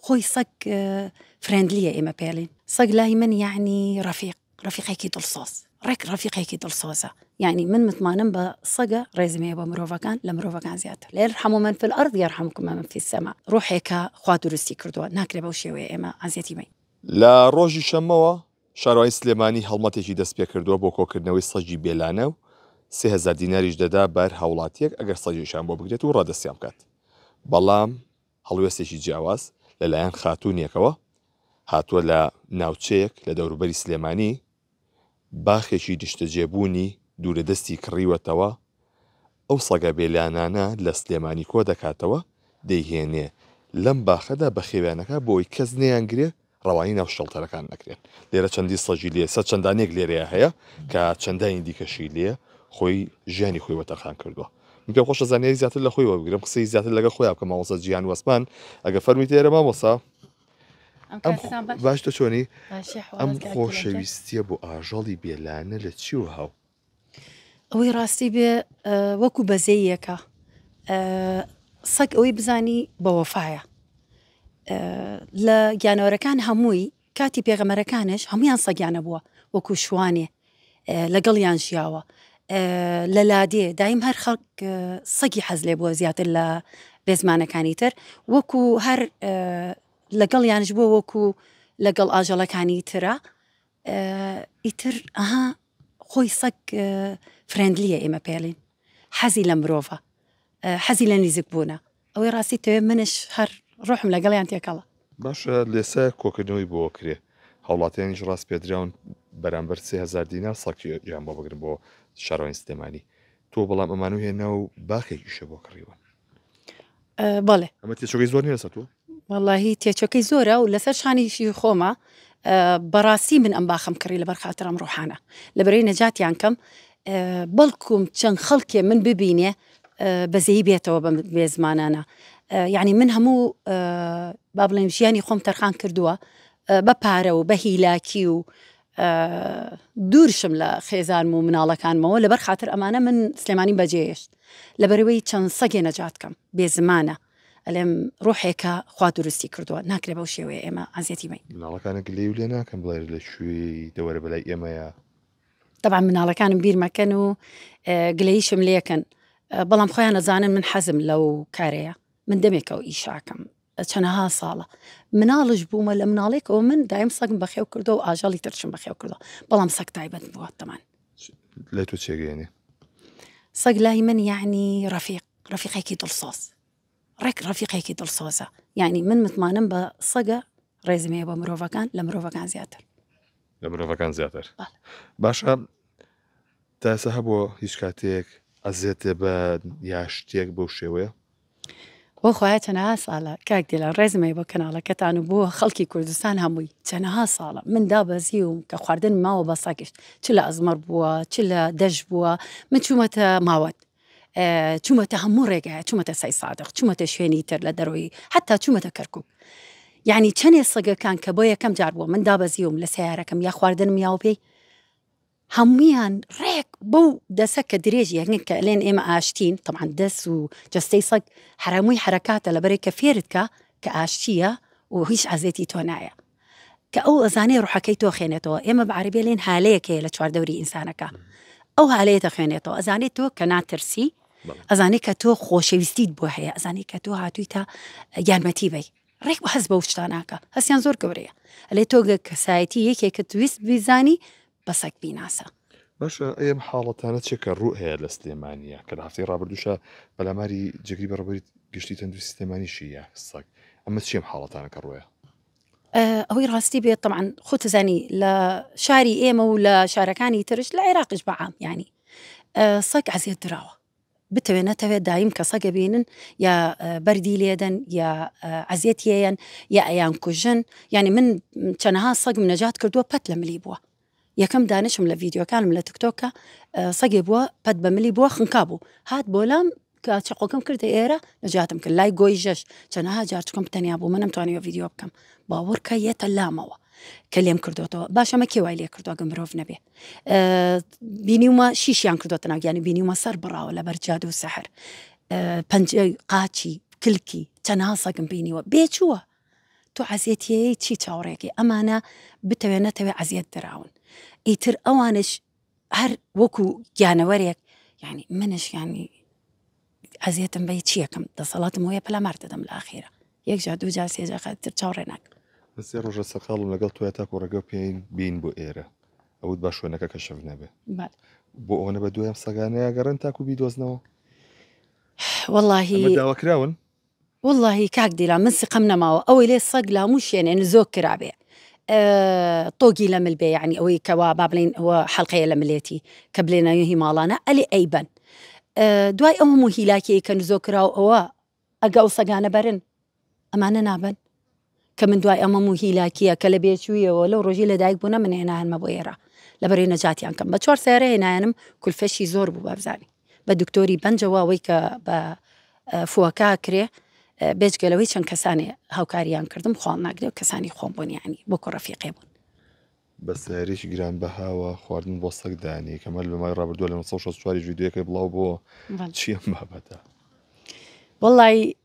خۆی سەگ فرێندلیە ئێمە پێڵین سەگ لای من یعنی ڕەفیق ڕەفیقێکی دڵسۆز ڕێک ڕەفیقێکی دڵسۆزە یعنی من متمانم بە سەگە ڕێزمەیە بە مرۆڤەکان لە مرۆڤەکان زیاتر لێر حەمو من فل ئەرد یار حەمکم من فی سەما ڕۆحێکە خوا دروستی کردووە ناکرێ بەو شێوەیە ئێمە عزیەتی بین. لە ڕۆژی شەممەوە، شارەوانی سلێمانی هەڵمەتێکی دەستپێکردووە بۆ کۆکردنەوەی سەگی بێلانە و سێ هەزار دیناریش دەدا بە هەر هاوڵاتییەک ئەگەر سەگێکیان بۆ بگرێت و ڕادەستیان بکات، بەڵام هەڵوێستێکی جیاواز لە لایەن خاتوونێکەوە هاتووە لە ناوچەیەک لە دەوروبەری سلێمانی باخێکی نیشتەجێبوونی دوورەدەستی کڕیوەتەوە، ئەو سەگە بێلانانە لە سلێمانی کۆدەکاتەوە دەیهێنێ لەم باخەدا بەخێویان ئەکا بۆ ئەوەی کەس نەیانگرێ، ڕەوانەی ناو شێڵتەرەکان نەکرێن لێرە چەندی سەگی لێ سەر چەندانێک لێرەیە هەیە کە چەندانی دیکەشی لێ خۆی ژیانی خۆی وەتەرخان کردووە من پێ خۆشە زانیاری زیاتر لە خۆی وەبگرم قسەی زیاتر لەگە خۆیان کە ماوەسە جیان وەسمان ئەگە فەرمی تێرە مامۆسا باشتە چۆنی ئەم خۆشەویستیە بۆ ئاژەڵی بێلانە لە چیوە هاو ئەوەی ڕاستی بێ وەکو بەزەیەکە سەگ ئەوەی بزانی بەوەفاایە لە گیانەوەرەکان هەمووی کاتی پێغەمەرەکانش هەمویان سەگیانە بووە وەکو شوانێ لەگەڵیان ژیاوە لە لادێ دایم هەر خەڵک سەگی حەز لێ بووە زیاتر لە بێزمانەکانی تر وەکو هەر لەگەڵ یانش بووە وەکو لەگەڵ ئاژەڵەکانی ترە ئیتر ئەها خۆی سەگ فرێندلیە ئێمە پێڵین حەزی لە مرۆڤە حەزی لە نیزیک بوونە ئەوەی ڕاستی تەوێ منش هەر ڕۆحم لەگەڵیان تێکەڵە باشە لێسە کۆکردنەوەی بۆ کرێ هاوڵاتیانیش ڕاست پێدراون بەرامبەر سێ هزار دینار سەقی یان بۆ بگرن بۆ شارۆین سلێمانی تۆ بەڵام ئەمانو هێنا و باخێکیشە بۆ کڕیوە بەڵێ ئەمە تێچۆگەی زۆر نیە سەتوو واللهی تێچەکەی زۆرە و لەسەر شانیشی خۆمە بەڕاستی من ئەم باخم کڕی لە بەرخاترم ڕۆحانە لە بەرەی نەجاتیان کەم بەڵکوم چەند خەڵکێ من ببینێ بەزەی بێتەوە بە بێ زمانانە یعنی من هەموو با بڵێن ژیانی خۆم تەرخان کردووە بە پارە و بە هیلاکی و دوور شم لە خێزانم و مناڵەکانمەوە لەبەر خاتر ئەمانە من سلێمانیم بەجێێشت لەبەرەوەی چەند سەگێ نەجات کەم بێ زمانە ئەلێم ڕوحێکە خوا دروستی کردووە ناکرێ بەو شێوەیە ئێمە ئازیەتی بین مناڵەکانە گلەی و لێ ناکەم بڵێ لە کوێی دەوەرە بەلای ئێمەیە طبعا مناڵەکانم بیرمەکەن و گلەیشم لەکەن بەڵام خۆیان نەزانن من حەزم لەو کارەیە من دەمێکەوە ئیشاکەم چەنەها ساڵە مناڵش بوومە لە مناڵێکەوە من دایم سەگم بەخێو کردو و ئاژەڵی ترشم بەخێو کردو بەڵام سەگ تایبەت بووە تەمان لە تۆ چێگەێنێ سەگ لای من یعنی ڕفیق ڕفیقێکی دڵسۆز ڕێک ڕفیقێکی دڵسۆزە یعنی من متمانم بە سەگە ڕێزمەیە بە مرۆڤەکان لە مرۆڤەکان زیاتر لە مرۆڤەکان زیاتر باشە تاسە هەبووە هیچ کاتێک ئەزێتێ بە یا شتێک بەو شێوەیە بۆ خوایە چەنەها ساڵە کاک دیلان ڕێزم هەیە بۆ کەناڵەکەتان و بۆ خەڵکی کوردستان هەمووی چەنەها ساڵە من دابەزیوم کە خواردن ماوە بە سەگشت چ لە ئەزمەڕ بووە چ لە دەش بووە من چوومەتە ماوەت چوومەتە هەموو ڕێگایە چوومەتە سای سادق چوومەتە شوێنی تر لە دەرەوەی حتا چوومەتە کەرکک یعنی چەندێ سەگەکان کە بۆ یەکەم جار بووە من دابەزیوم لە سیارەکەم یا خواردنم یاوە پێی هەموویان ڕێک بەو دەسە کە درێژی ئەکەن کە ئەلێن ئێمە ئاشتین، تەبعەن دەس و جەستەی سەگ حەرامووی حەرەکاتە لەبەرئ کە فێرت کا کە ئاشتییە و هیچ عەزێتی تۆ نایە کە ئەو ئەزانێ ڕوحەکەی تۆ خێنێتەوە ئێمە بە عەرەبی ئەلێن هالەیەک هەیە لە چوار دەوری ئینسانەکا ئەو هالەیە دەخوێنێتەوە ئەزانێ تۆ کە ناترسی ئەزانێ کە تۆ خۆشەویستیت بۆ هەیە ئەزانێ کە تۆ هاتوویتە یارمەتی بەی. ڕێک بە هەست بەو شتا ناکە هەستیان زۆر گەورەیە ئەلێ تۆ گە کەسایەتی یەکێکت ویست بیزانی بە سەگ بیناسە. باشە ئەم حاڵەتانە چێ کە ڕوو هەیە لە سلێمانە کە لە هەفتەی ڕابردوشە پەلاماری جگری بەڕبری گشتی تەندوی سلێمانیشی یا سەگ ئەمە چیم حاڵەتانە کە ڕۆیە ئەوەی ڕاستی بێت طبعاان خۆتزانی لە شاری ئێمە و لە شارەکانی ترش لە عێراقش بەعام ینی سەک عزیێت دراوە بتەوێ نەتەوێ دایم کەسەک ئەبینن یا بەردی لێدەن یا عەزێتی ئەیەن یا ئەیان کوژن یعنی من چەنەها سەگم نەجات کردووە پەت لە ملی بووە یەکەم دانشم لە ڤیددیوکانم لە تکتۆکە سەگێ بووە پەت بە ملی بووە خنکا بوو هات بۆ لام کە چقۆکەم کردە ئێرە نەجاتم کرد لای گۆی ژەش چەنەها جارچکم تەنیا بوو منم توانیوە ڤیددیو بکەم باوەڕکە یەتە لامەوە کە لێم کردوەوە باشەمە کێوای لێ کردوگە مرۆڤ نەبێ بینیومە شیشیان کردوتە ناگیانی بینیومە سەر بڕاوە لە بەرجاد و سەحر پنج قاچی کلکی چەناسەکم بینیوە بێچووە تۆ عزیەتیەیە چی چاوەڕێکی ئەمانە بتەوێت نەتەوێت عزیەت دراون ئیتر ئەوانش هەر وەکو گیانەوەرێک ینی منش ینی ئەزیەتم بەی چیەکەم دەسەڵاتم هۆیە پەلامار دەدەم لە ئاخیرا یەک جار دوو جار سێ جار خە تر چاوڕێ ناکەم. من سێ ڕۆژە سەرقاڵم لەگەڵ تۆیا تاکو ڕێگەو پێین بین بۆ ئێرە ئەوت با شوێنەکە کەشف نەبێ بەڵێ بۆ ئەوەنە بە دوای ئەم سەگانەیە گەڕێن تاکو بیدۆزنەوە ئەمە واللهی داواکراون وەڵاهی کاک دیلان من سقەم نەماوە ئەوەی لێ سەگ لاموو شێنێ نزۆک کرابێ طۆگی لە مل بێ یعنی ئەوەی کەوا با بڵین ئەوە حەڵقەیە لە ملێتی کە بلێ ناوی هی ماڵانە ئەلێ ئەیبەن دوای ئەو هەموو هیلاکیەی کە نزۆک کراو ئەوە ئەگە ئەو سەگانە بەرن ئەمانە نابن کە من دوای ئەمەم و هیلاکییە کە لە بێچوویەوە لەو ڕۆژی لە دایک بوونە من هێنایانمە بۆ ئێرە لە بەرەی نەجاتیان کەم بە چوار سەیارە هێنایانم کولفەشی زۆر بوو بابزانی بە دکتۆری بەنجەوە ئەوەی کە بە فوەکە کرێ بێجگەلەوەی چەند کەسانی هاوکاریان کردم خۆڵ ناگرێ و کەسانی خۆم بوون ینی بۆ کوڕەفیقێ بوون بە سیارێکی گران بەهاوە خواردن بۆ سەک دانی کەمە لە مای ڕابردووە لە 1964 ویددیوەکەی بڵاو بۆ چیم بابەتە وڵی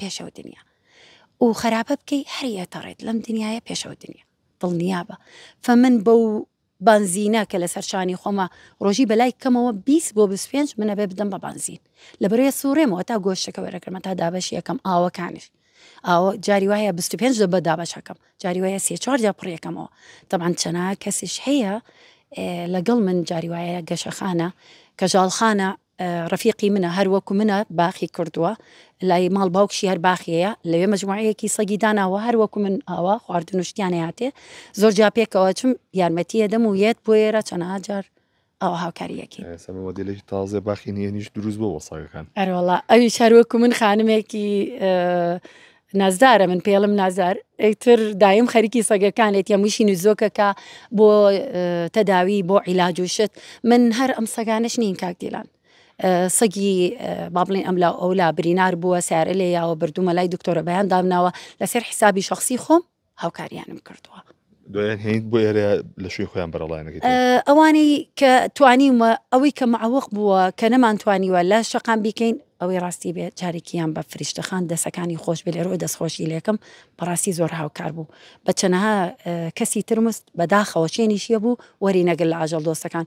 پێشەوە دنیا و خەراپە بکەی هەری ئەتەڕێت لەم دنیاە پێشەوە دنیا دڵنیابە فەمن بەو بانزینە کە لەسەر شانی خۆمە ڕۆژی بەلای کەمەوە 20 بۆ 25 منە بێ بدەم بە بانزین لە بەرێ سوڕێمەوە تا گۆشتەکە وەرەکەمە تا دابەش یەکەم ئاوەکانش ئاوە جاری وایە 25 دە بەدابەشەکەم جاری وایە سێ چوار جا پڕیەکەمەوە تەبان چەنا کەسیش هەیە لەگەڵ من جاری وایە گەشەخانە کەژاڵخانە ڕەفیقی منە هەر وەکو منە باخی کردووە لای ماڵ باوکشی هەر باخیەیە لەوێ مەجموعەیەکی سەگی داناوە هەر وەکو من ئاوا خواردن و شتیان هاتێ زۆر جا پێکەوە چم یارمەتیە دەم و یەت بۆ ئێرە چەنەها جار ئەو هاوکاریەکی سەمە مۆدیلێکی تازە باخی نیەنیش دروست بۆ وەساگەکان ئەرۆڵا ئەوی شار وەکو من خانمێکی نازدارە من پێڵم نازار ئەیتر دایم خەریکی سەگەکانێت یە مویشی نوزۆکەکە بۆ تەداوی بۆ عیلاج و شت من هەر ئەم سەگانش نین کاک دیلان سەگی با بڵێن ئەملا ئەولا برینار بووە سارە لێ یاوە بردوومە لای دکتۆرە بەیان دامناوە لەسەر حسابی شخصی خۆم هاوکاریانم کردووە. بۆ ئێرە لە شوێ خۆیان بەرەڵایەنەکە ئەوانەی کە توانیمە ئەوەی کە معوەق بووە کە نەمانتوانیوە لە شەقام بیکەین ئەوەی ڕاستی بێ جارێکیان بە فریشتەخان دەسەکانی خۆش بێ لەرۆی دەستخۆشی لەکەم بەڕاستی زۆر هاوکار بوو بە چەنەها کەسی ترمست بەداخەوە چێنیشیە بوو وەری نەگەل لە ئاژەڵ دۆستەکان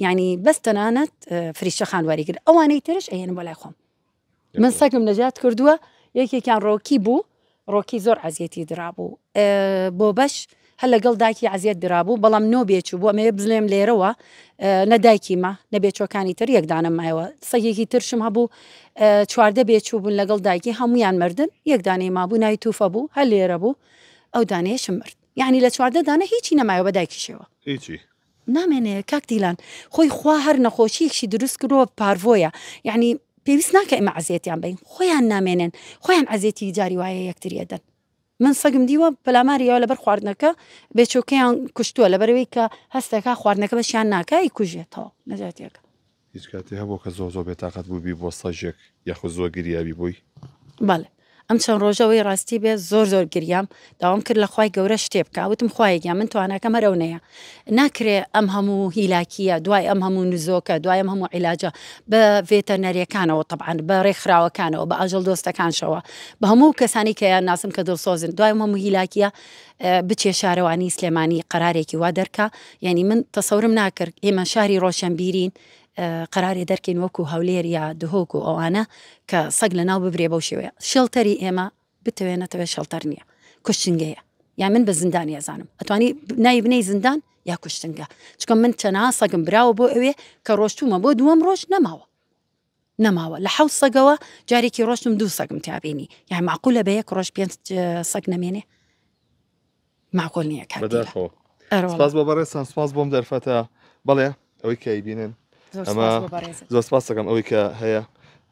ینی بەس تەنانەت فریشتەخان وەریگر ئەوانەی ترش ئەێن بۆ لای خۆم من سەگم نەجات کردووە یەکێکیان ڕۆکی بوو ڕۆکی زۆر عزیەتی درابوو بۆ بەش هەر لەگەڵ داکی عزیەت درابوو بەڵام نۆ بێچ بوو ئەمەیە بزلێم لێرەوە نەدایکی ما نەبێچەکانی تر یەکدانە مایەوە سەگێکی ترشم هەبوو چواردە بێچوو بوون لەگەڵ دایکی هەمویان مردن یەکدانی ما بوو نای توفە بوو هەر لێرە بوو ئەو دانێشم مرد یعنی لە چواردە دانە هیچی نەمایەوە بە دایکیشەوە هیچی نامێنێ کاک دیلان خۆی خوا هەر نەخۆشیەکشی دروست کرۆ پارڤۆیە یعنی پێویست ناکە ئمە عزیێتیان بین خۆیان نامێنێن خۆیان عزیێتی جاری وایە یەکتریەدەن من سەگم دیوە پەلاماریەوە لەبەر خواردنەکە بێچۆکەیان کوشتووە لەبەرەوەی کە هەستەکە خواردنەکە بەشیان ناکای کوژێتەوە نەجاتیەکە هیچ کاتێ هەبوە کە زۆر زۆر بێتاقەت بوبی بۆ سەگێک یاخود زۆر گریابی بۆی؟ بەڵێ ئەم چەند ڕۆژە وەی ڕاستی بێ زۆر زۆر گریام داوام کرد لە خوای گەورە شتێ بکا وتم خوایە گیان من تواناکەم هەر ئەونەیە ناکرێ ئەم هەموو هیلاکیە دوای ئەم هەموو نزۆکە دوای ئەم هەموو عیلاجە بە ڤێتەرنەریەکانەوە تەبعەن بە ڕێکخراوەکانەوە بە ئاژەڵ دۆستەکانشەوە بە هەموو کەسانی کە یان ناسم کە دڵسۆزن دوای ئەم هەموو هیلاکیە بچێ شارەوانی سلێمانی قەرارێکی وا دەرکا یانی من تەسەورم ناکرد ئێمە شاری ڕۆشەنبیرین قەرارێ دەرکەین وەکو هەولێر یا دهۆک و ئەوانە کە سەگ لە ناو ببرێ بەو شێوەیە شێڵتەری ئێمە بتەوێ نەتەوێ شەڵتەر نییە کوشتنگەیە یا من بە زیندانی ئەزانم ئەتوانی نای بنەی زیندان یا کوشتنگە چکە من چەنا سەگم براوە بۆ ئەوێ کە ڕۆشتومە بۆ دووەم ڕۆژ نەماوە نەماوە لە حەوت سەگەوە جارێکی ڕۆشتم دوو سەگم تابینی یان معقولە بە یەک ڕۆژ پێنج سەگ نەمێنێ معقول نییە کاس بە بەڕێسان سپاس بۆم دەرفەتە بەڵێ ئەوەی کای بینن ئەمە زۆر سپاس دەکەم ئەوەی کە هەیە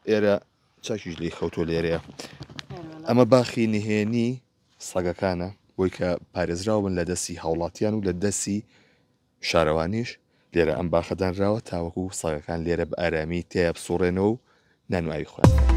ئێرە چاکیش لی خەوتۆ لێرەیە ئەمە باخی نهێنی سەگەکانە بۆی کە پارێزراون لە دەستی هاوڵاتیان و لە دەسی شارەوانیش لێرە ئەم باخە دانراوە تاوەکو سەگەکان لێرە بە ئارامی تێیا بسوڕێنەوە و نان و ئاوی خۆیان بکەن.